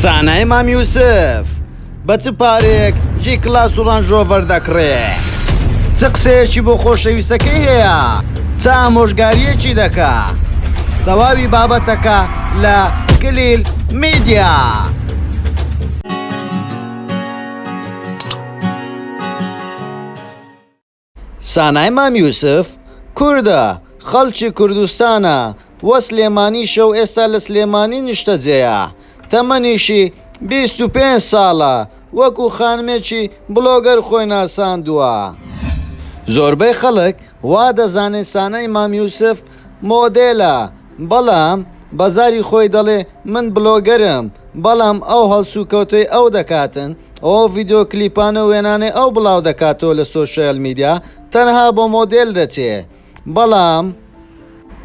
زانای مام یوسف بە چ پارێک جی کلاس و ڕەنجۆڤەر دەکڕێ چ قسەیەکی بۆ خۆشەویستەکەی هەیە چا ئامۆژگاریەکی دەکا تەواوی بابەتەکە لە کلیل میدیا. سانای مام یوسف کوردە خەڵکی کوردستانە و سلێمانیشە و ئێستا لە سلێمانی نیشتەجێیە تەمەنیشی بیست و پێنج ساڵە وەکو خانمێکی بڵۆگەر خۆی ناساندووە. زۆربەی خەڵک وا دەزانێت سانای مام یوسف مۆدێلە بەڵام بەزاری خۆی دەڵێ من بلۆگەرم بەڵام ئەو هەڵسوکەوتەی ئەو دەکاتن و ئەو ڤیدیۆ کلیپانە و وێنانەی ئەو بڵاو دەکاتەوە لە سۆشیال میدیا تەنها بۆ مۆدێل دەچێ بەڵام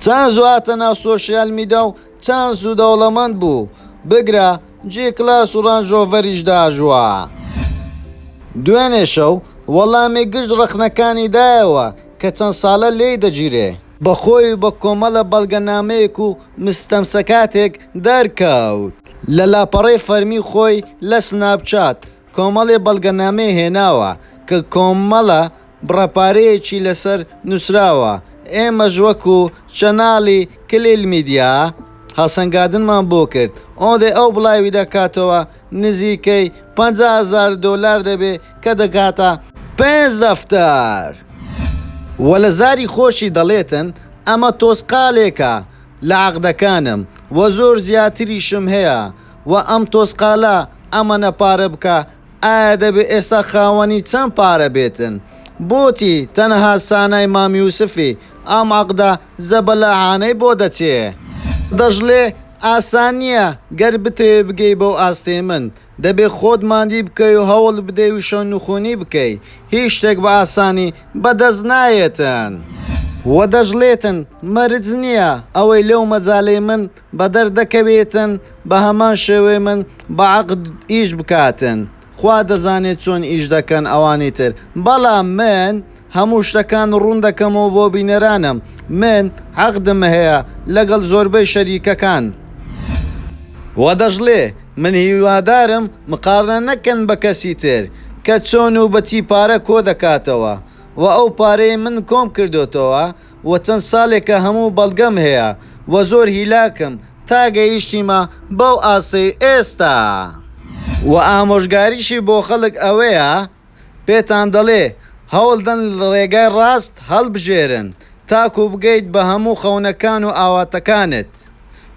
چەند زواتە ناو سۆشیال میدا و چەند زوو دەوڵەمەند بوو بگرە جی کلاس و ڕانج ڕۆڤەریش داژوا. دوێنێ شەو وەڵامی گشت ڕەخنەکانی دایەوە کە چەند ساڵە لێی دەگیرێ. بە خۆی و بە کۆمەڵە بەڵگەنامەیەک و مستەمسەکاتێک دەرکەوت. لە لاپەڕەی فەرمی خۆی لە سناپ چات کۆمەڵێ بەڵگەنامەی هێناوە کە کۆمەڵە بڕە پارەیەکی لەسەر نوسراوە ئێمەش وەکو چەناڵی کلیل میدیا هەڵسەنگادنمان بۆ کرد ئۆدێ ئەو بڵاوی دەکاتەوە نزیکەی پەنجا هەزار دۆلار دەبێ کە دەگاتە پێنج دەفتەر. وە لە زاری خۆشی دەڵێتن ئەمە تۆزقالێکە لە عەقدەکانم وە زۆر زیاتریشم هەیە وە ئەم تۆزقالە ئەمەنە پارە بکە ئایا دەبێ ئێستا خاوەنی چەند پارە بێتن؟ بۆچی تەنها سانای مام یوسفی ئەم عەقدە زەبەلاحانەی بۆ دەچێ؟ دەشڵێ، ئاسان نییە، گەر بتەوێ بگەی بەو ئاستەی من، دەبێ خۆت ماندی بکەی و هەوڵ بدەی و شەونخونی بکەی، هیچ شتێک بە ئاسانی بە دەست نایەتن. وە دەشڵێتن، مەرج نییە ئەوەی لەو مەجالەی من بەدەردەکەوێتن بەهەمان شێوەی من بەعەقد ئیش بکاتن خوا دەزانێت چۆن ئیش دەکەن ئەوانی تر بەڵام من هەموو شتەکان ڕوون دەکەمەوە بۆ بینەرانم من عەقدم هەیە لەگەڵ زۆربەی شەریکەکان وە دەشڵێ من هیوادارم مقارنە نەکەن بە کەسی تر کە چۆن و بەچی پارە کۆدەکاتەوە وە ئەو پارەی من کۆم کردۆتەوە و چەند ساڵێکە هەموو بەڵگەم هەیە و زۆر هیلاکم تا گەیشتیمە بەو ئاستەی ئێستا. و ئامۆژگاریشی بۆ خەڵک ئەوەیە پێتان دەڵێ هەوڵدەن ڕێگای ڕاست هەڵبژێرن تاکوو بگەیت بە هەموو خەونەکان و ئاواتەکانت. دەکرد.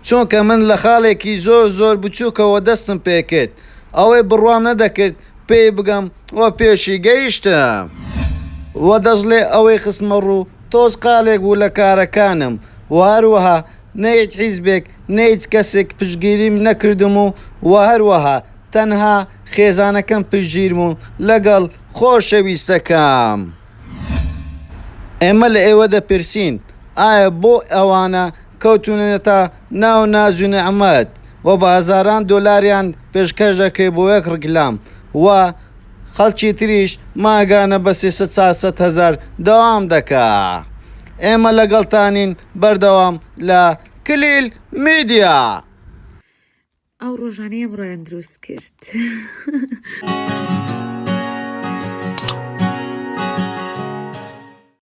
چونکە من لە خاڵێکی زۆر زۆر بچووکەوە دەستم پێ کرد، ئەوەی بڕوام نەدەکرد پێی بگەم و پێشی گەیشتم. و دەشڵێ ئەوەی خستمە ڕوو تۆز قالێک بوو لە کارەکانم و هەروەها نە هیچ حیزبێک نە هیچ کەسێک پشتگیریم نەکردم و و هەروەها تەنها خێزانەکەم پشتگیربوون لەگەڵ خۆشەویستەکەم. ئێمە لە ئێوە دەپرسین، ئایا بۆ ئەوانە کەوتوونەتە ناو ناز و نیعمەت و بە هەزاران دۆلاریان پێشکەش دەکرێت بۆ یەک ڕیکلام و خەڵکی تریش مانگانە بە سێ سەد چوار سەد هەزار دەوام دەکەن؟ ئێمە لەگەڵتانین بەردەوام لە کلیل میدیا. ئەو ڕۆژانەی ئەمڕۆیان دروست کرد.